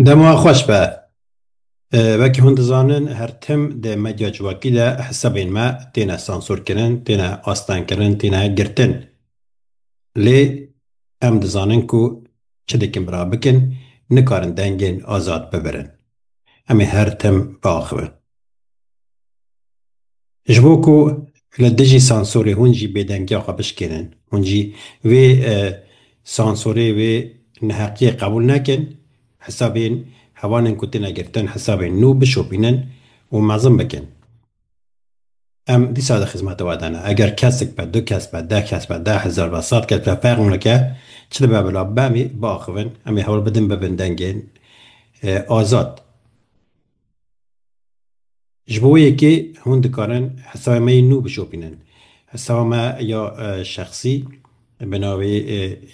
Dem wan xweş be. Wekî hûn dizanin her tim di medya civakî de hesabên me têne sansorkirin, têne astengkirin, têne girtin. Lê em dizanin ku çi dikin bira bikin nikarin dengên azad bibirin. Em ê her tim biaxivin. Ji bo ku li dijî sansorê hûn jî bêdengiya xwe bişkênin, hûn jî vê sansorê, vê neheqiyê qebûl nekin, hesabên hevalên ku têne girtin hesabên nû bişopînin û mezin bikin. Em dîsa di xizmeta we de ne. Eger kesik be, du kes be, deh kes be, deh hezar be, sed kes be, ferq nake, çi dibe bila, be em ê biaxivin, em ê hewl bidin bibin dengên azad. Ji bo yekê hûn dikarin hesabê me yê nû bişopînin. Hesaba me ya şexsî bi navê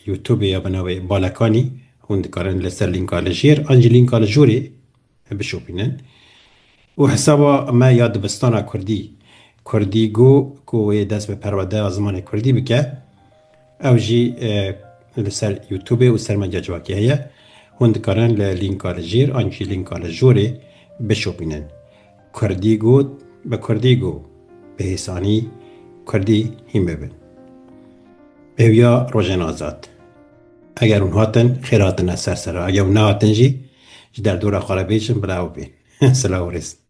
Youtubê ya bi navê Balekanî hûn dikarin li ser lînka li jêr an jî lînka li jorê bişopînin û hesaba me ya dibistana kurdî, Kurdigo, ku wê dest bi perwedeya zimanê kurdî bike. Ew jî li ser YouTubê û sermeca civakê heye. Hûn dikarin li lînka li jêr an jî lînka li jorê bişopînin. Kurdî got bi kurdî go, bi hêsanî kurdî hîn bibin. Bêwîya rojên azad. Eger hûn hatin, xêr hatine ser serra. Eger hûn nehatin jî, ji derdora xwe re bêjin bila ew bên. Silav û rêz.